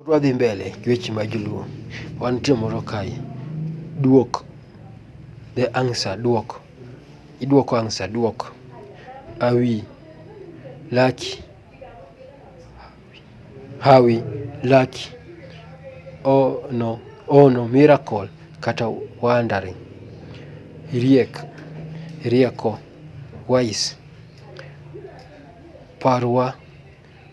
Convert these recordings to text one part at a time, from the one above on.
Odwa dhi mbele gi weche ma joluo. Wan nitie moro kae. Duok. The answer. Duok. Iduoko answer. Duok. Awi. Laki. Hawi. Laki. Oh no. Oh no. Miracle. Kata wandering. Riek. Rieko. Wise. Parwa.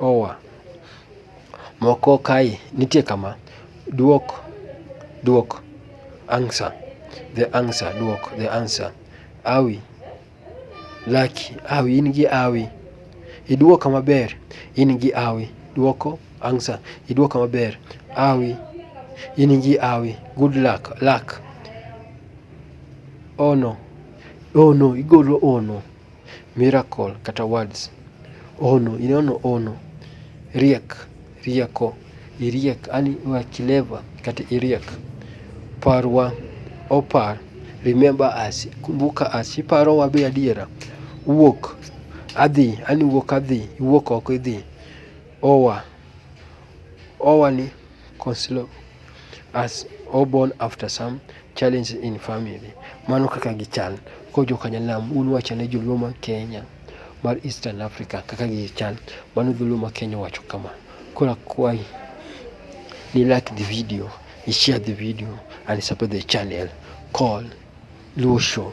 Oa. Moko kae nitie kama, dwok, dwok, answer, the answer, dwok, the answer, hawi, lucky, hawi, in gi hawi, idwoka maber, in gi hawi, dwoko, answer, idwoka maber, hawi, in gi hawi, good luck, luck, ono, ono, igolo ono. miracle kata words. Ono, inono ono, riek, rieko, iriek, ani wa clever kata iriek. Parwa, opar, remember us, kumbuka us, iparowa be adiera. Wuok, adhi, ani wuok adhi, iwuok oko idhi. Oa, overly costly as all born after some challenges in family. Mano kaka gichal ko jokanyanam un wacho ne joluo ma Kenya mar Eastern Africa kaka gichal. Mano joluo ma Kenya wacho kama. Kora kwayi ni like the video, ni share the video and support the channel called Luo Show.